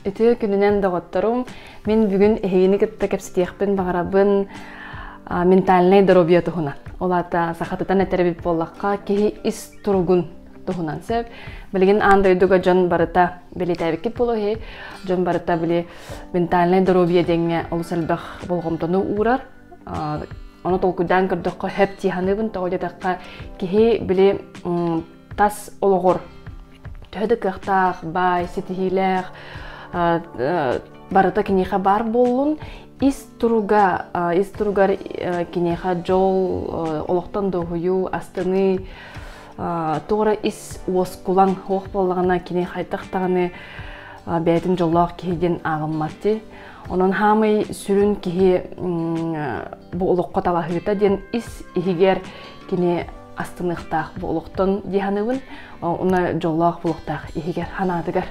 Үтүө күнүнэн доҕотторум! Мин бүгүн эһигини кытта кэпсэтиэхпин баҕарабын ментальнай доруобуйа туһунан. Ол аата сахатытан этэр эбит буоллахха, киһи ис туругун туһунан сөп. Билигин аан дойдуга дьон барыта билитээбиккит буолуо иһи, дьон барыта били ментальнай доруобуйа диэҥҥэ олус элбэх болҕомтону уурар. Оны толкуйдаан көрдөххө, хэп тиһаныыбын тоҕо диэтэххэ, киһи били тас олоҕор төһө да кыахтаах, баай, ситиһиилээх, барыта киниэхэ баар буоллун, ис туруга, ис туругар киниэхэ дьол, олохтон доһуйуу, астыныы, туора ис уоскулаҥ уох буоллаҕына, кини хайдах даҕаны бэйэтин дьоллоох киһи диэн ааҕыммат дии. Онон хаамый сүрүн киһи бу олоххо талаһыыта диэн ис иһигэр кини астыныахтаах бу олохтон дии саныыбын. Уна дьоллоох булуохтаах иһигэр ханаатыгар.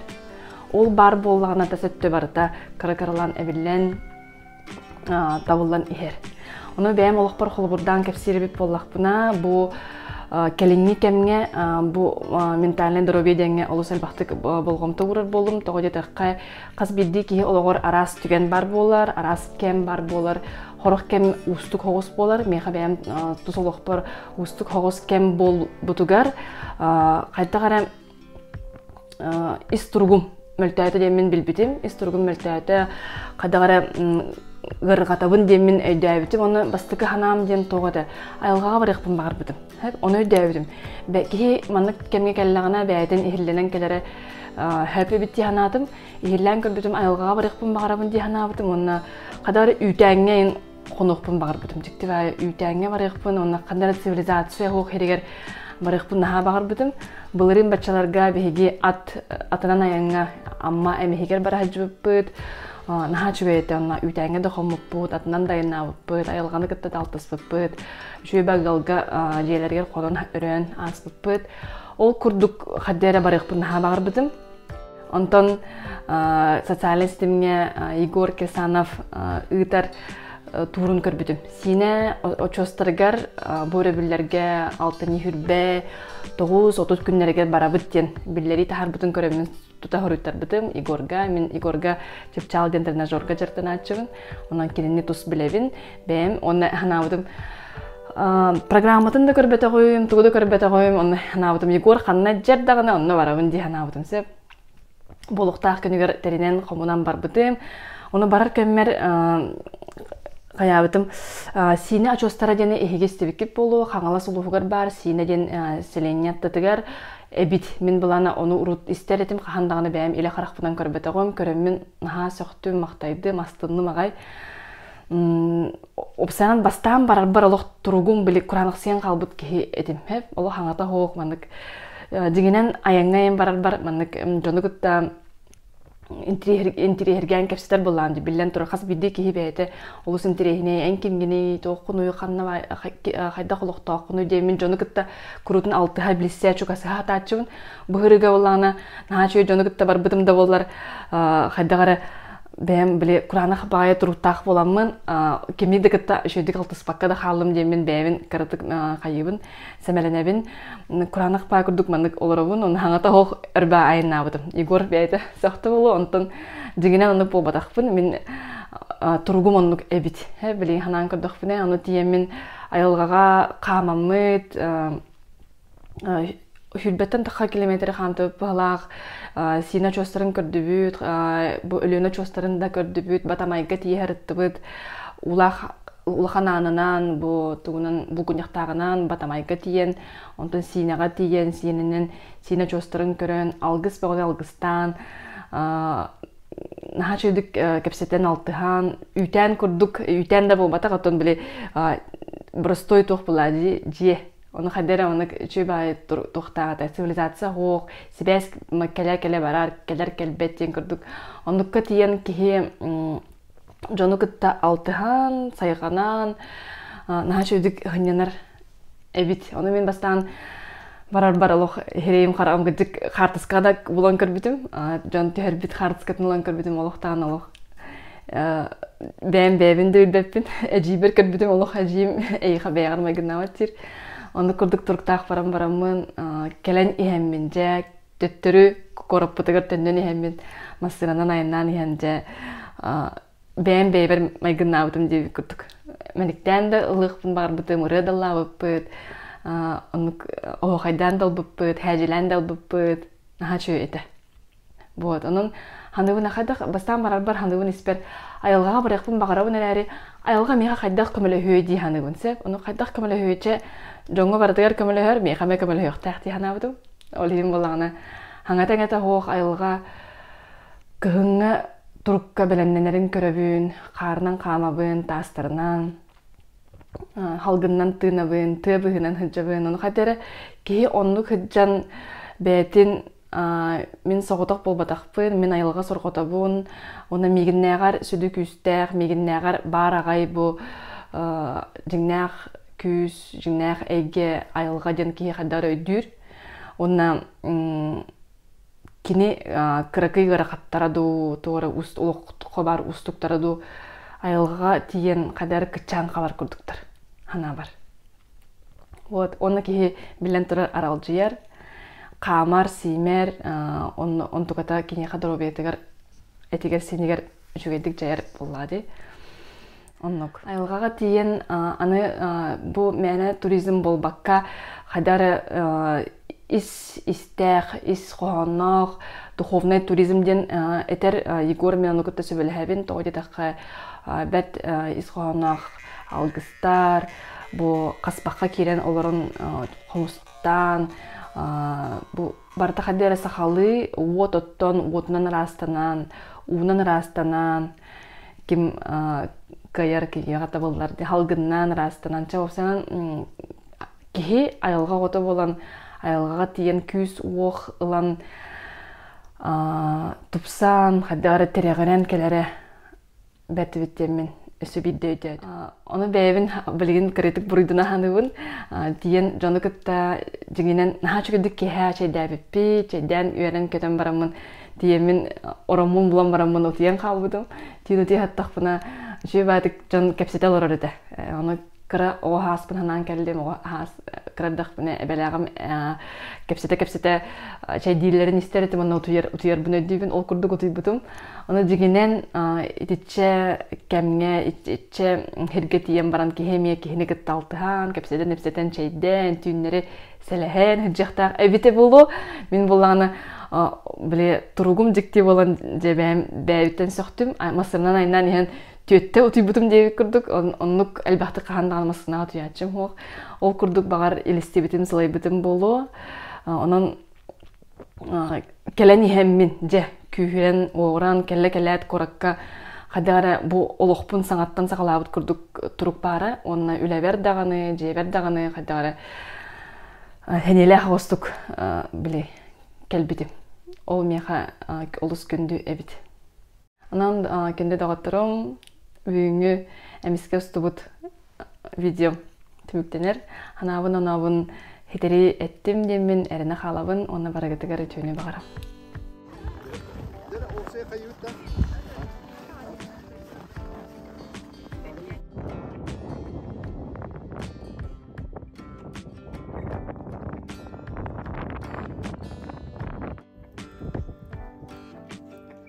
Ол баар буоллаҕына да сөттө барыта кыра-кыралан эбиллэн, табыллан иһэр. Ону бэйэм олохпор холобурдаан кэпсиирбит буоллахпына, бу кэлиҥҥи кэмҥэ бу ментальнай доруобуйа диэҥҥэ олус элбэхтик болҕомто уурар буоллум. Тоҕо диэтэххэ, Хас биирдии киһи олоҕор араас түгэн баар буолар, араас кэм баар буолар. Хорох кэм уустук хоҕус буолар. Миэхэ бэйэм тус олохпор уустук хоҕус кэм буолбутугар хайдах эрэ ис туругум мөлтөөтө диэммин билбитим. Ис туругум мөлтөөтө хайдах эрэ ыарырҕатабын диэммин өйдөөбүтүм. Ону бастакы санаам диэн тоҕо этэ айылҕаҕа барыахпын баҕарбытым. Оны өйдөөбүтүм. Киһи маннык кэмҥэ кэллэҕинэ бэйэтин иһиллэнэн кэлэрэ сөп эбит дии санаатым. Иһиллээн көрбүтүм айылҕаҕа барыахпын баҕарабын дии санаабытым уонна хадаар үүтээҥҥэ хонуохпун баҕарбытым. Дьиктибай үүтээҥҥэ барыахпын уонна хадаар цивилизация суох иһигэр барыахпын наһаа баҕарбытым. Былырыын баччаларга биһиги ат атынан айаҥҥа Амма эмиһигэр бара сылдьыбыппыт. наһаа үчүгэй этэ онно үүтээҥҥэ да хоммуппут, атынан дайанаабыппыт, айылҕаны кытта алтыспыппыт. Чүөбэ ыалга дьиэлэригэр хорон өрөөн ааспыппыт. Ол курдук хадды эрэ барыахпын наһаа баҕарбытым. Онтон социальнай ситимҥэ Егор Кесанов ыытар туурун көрбүтүм. Сиинэ очуостарыгар бу өрөбүллэргэ алтынньы хүрбэ тоҕус отут күннэригэр барабыт диэн биллэрии таһаарбытын көрөммүн тута хоруйтарбытым Егорга мин Егорга чыпчаал диэн тренажерга дьарыктанааччыбын онон кинини тус билэбин бэйэм уонна санаабытым программатын да көрбөтөҕүм тугу да көрбөтөҕүм онно санаабытым Егор ханна дьэр даҕаны онно барабын дии санаабытым сөп буолуктаах күнүгэр тэринэн хомунан барбытым ону барар кэммэр хайаабытым Сиинэ очуостара диэни эһиги истибиккит буолуо Хаҥалас улууһугар баар Сиинэ диэн селение аттытыгар Эбит. Мин былаана ону урут истэр этим, хаһан даҕаны бэйэм илэ харахпынан көрбөтөҕүм, көрөммүн наһаа сөхтүм, махтайдым, астынным аҕай. Обсанан бастаан барарбар олох туругум били кураанахсыйан хаалбыт киһи этим. Олох хаҥата оһох маннык дьиҥинэн айаҥҥа айан барарбар маннык дьону кытта интириэһиргээн кэпсэтэр буоллаан дии биллэн турар хас биирдии киһи бэйэтэ олус интириэһинэй эн кимгиний туоххунуй ханна хайдах олохтооххунуй диэмин дьону кытта куруутун алтыһа билсэ чугасыһа сатааччыбын быһырыга боллаана наһаа үчүгэй дьону кытта барбытым да буоллар хайдах эрэ бэйэм били кураанах баайа туруктаах буоламмын кими да кытта үчүгэйдик алтыспакка да хааллым диэммин бэйэбин кыратык хайыыбын сэмэлэнэбин кураанах паа курдук маннык олоробун он хаҥата оһох өрбө айаннаабытым егор бэйэтэ сөхтө болу онтон дьиҥинэн оннук буолбатахпын мин туругум оннук эбит билин ханаан көрдөхпүнэ ону тиэмин айылҕаҕа хаамаммыт сүүрбэттэн тахха километр хаантыбыт быһалаах сиина очуостарын көрдүбүт бу өлүөнэ очуостарын да көрдүбүт батамайга тиэһэрыттыбыт улаах улахан аанынан бу тугунан булгунньахтааҕынан батамайга тиийэн онтон сиинэҕэ тиийэн сиэнинэн сиинэ очуостарын көрөн алгыс бөҕө алгыстаан наһаа чэйдик кэпсэтэн алтыһаан үүтээн курдук үүтээн да буолбатах оттон били боростой туох була дии дьиэ Ону хадара ону үчү баай туохтааҕыта цивилизация оһох сибээс кэлэ кэлэ барар кэлэр кэлбэт диэн курдук оннукка тиийэн киһи дьону кытта алтыһан сайҕанан наһаа үчүгдүк ыһынньанар эбит ону мин бастаан барарбар олох иһирэйим хараҕым кырдьык хаартыскаҕа да булан көрбүтүм дьон түһэрбит хаартыскатын ылан көрбүтүм олохтаан олох бэйэм бэйэбин да үрдэппин эдьиийбэр көрбүтүм олох эдьиийим эйиэхэ бэйэҕэр майгынаабат сир онно курдук туруктаах баран бараммын кэлэн иһэммин дьэ төттөрү куораппытыгар төннөн иһэммин массыынанан айаннаан иһэн дьэ бэйэм бэйэбэр майгынаабытым диэбит курдук мэниктээн да ылыахпын баҕарбытым ырыа даллаабыппыт оннук оһуохайдаан да ылбыппыт хээдьилээн да ылбыппыт наһаа үчүгэй этэ буот онон ханыбын хайдах бастаан барарбар ханыбын испэт айылҕаҕа барыахпын баҕарабын эрээри айылҕа миэхэ хайдах көмөлөһүө дии саныыбын сөп ону хайдах көмөлөһүөччэ дьоҥҥо барытыгар көмөлөһөр миэхэ эмэ көмөлөһүөхтээх дии санаабытым ол иһин буоллаҕына хаҥата эҥэтэ суох айылҕа кыһыҥҥы турукка бэлэмнэнэрин көрөбүн хаарынан хаамабын таастарынан халгыннан тыынабын тыа быыһынан сылдьабын ону хайда эрэ киһи оннук сылдьан бэйэтин Мин соҕотох буолбатахпын, мин айылҕа сорҕотобун, уонна миигиннээҕэр сүдү күүстээх, миигиннээҕэр баар аҕай бу дьиҥнээх күүс, дьиҥнээх эйгэ, айылҕа диэн киһи хайдах эрэ өйдүүр. Уонна кини кыракый ыарахаттара дуу, туора олоххо баар уустуктара дуу айылҕаҕа тиийэн хайдах эрэ кыччаан хаалар курдуктар санаабар. Вот уонна киһи билэн турар аралдьыйар хаамар сиимэр онно онтуката киниэхэ доруобуйатыгар этигэр сиинигэр үчүгэйдик дьайар буоллаа дии оннук айылҕаҕа тиийэн аны бу мээнэ туризм буолбакка хайдах эрэ ис истээх ис хоһоонноох духовный туризм диэн этэр егор мианы кытта сөбүлэһэбин тоҕо диэтэххэ бэрт ис хоһоонноох Алгыстар бу хаспахха киирэн олорон хомустаан бу барыта ханна эрэ сахалыы уот оттон уотунан ыраастанан уунан ыраастанан ким кыайар киһиэхэ табыллар дии халгыннаан ыраастанан чэ санан киһи айылҕа оҕото буолан айылҕаҕа тиийэн күүс-уох ылан тупсан ханна эрэ тирэҕирэн кэлэрэ бэртибит диэммин өссө биирдэ өйдөөт ону бэйэбин билигин кырыытык буруйдана саныыбын тиийэн дьону кытта дьиҥинэн наһаа үчүгэйдик киэһэ чэйдээбиппит чэйдээн үөрэн көтөн бараммын тиийэммин ороммун булан бараммын утуйан хаалбытым тиийэн утуй саттахпына үчүгэй баатык дьон кэпсэтэ олорор этэ ону кыра оҕо ааспын санаан кэллим оҕо аас кырдахпына эбэлээҕим кэпсэтэ-кэпсэтэ чэйдииллэрин истэр этим уонна утуйар утуйарбын өйдүүбүн ол курдук утуйбутум аны дьиҥинэн итиччэ кэмҥэ итиччэ сиргэ тиийэн баран киһи эмиэ киһини кытта алтыһан кэпсэтэн-ипсэтэн чэйдээн түүннэри сэлэһэн сыдьахтаах эбитэ буолуо мин булааны били туругум дьикти буолан дьэ бэйэм бэйэбиттэн сөхтүм массыынанан айнаан иһэн Түөттэ утуйбутум диэбит курдук, оннук элбэхтик хаһан даҕаны массыынаҕа утуйааччым суох. Ол курдук баҕар илистибитим, сылайбытым буолуо. Онон кэлэн иһэммин, дьэ, күүһүрэн уоҕураан кэллэ-кэлээт куоракка хайдах эрэ бу олохпун саҥаттан саҕалаабыт курдук турук баара уонна үлэбэр даҕаны, дьиэбэр даҕаны хайдах эрэ сэниэлээх оҕустук били кэлбитим. Ол миэхэ олус күндү эбит. Онон кинини доҕотторум бүгүҥҥү эмискэ устубут видеом түмүктэнэр. Ханаабын онообун хитэрии эттим диэммин эрэнэ хаалабын уонна барыгытыгар үтүөнү баҕарам.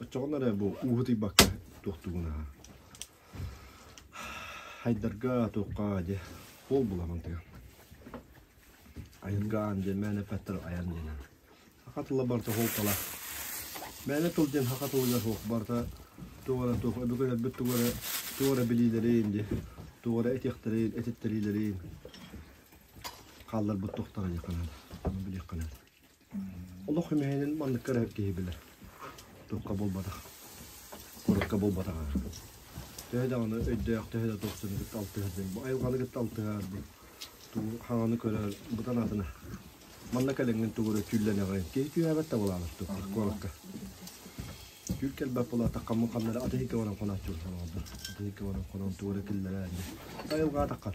Оччоҕуна эрэ бу ууһу тыйбакка туохтуугун аһа. Хайдарга туохха дьэ ол булаҕын тыа. Айылгаан дьэ мээнэ пэттэр айан диэнэн. Саха тыла барыта холкала. Мээнэ тыл диэн саха тылыгар суох барыта туох эрэ туох өбүгэлэрбит туох эрэ туох эрэ билиилэрин дьэ туох эрэ этиэхтэрин этиттэриилэрин хаалларбыт тохтара диэххэ наада. Ону билиэххэ наада. Олох үмүһүнэн маннык көрөр киһи билэр. Туохха буолбатах, сурукка буолбатаҕа. Төһө даҕаны өйдөөх, төһө да тупсуну кытта алтыһарбын, бу айылҕаны кытта алтыһарбын, туу хаҥаны көрөр, бу санаатына манна кэлэҥҥин тугу эрэ түүллэниэҕиҥ. Киһи түһээбэт да буолаҕын туппат куоракка. Түүл кэлбэт буолаатах хаммын ханнары атыһы кэбэнэн хонооччулар олоҕоллор. Атыһы кэбэнэн хоноон тугу эрэ киллэрэн айылҕа атаххан.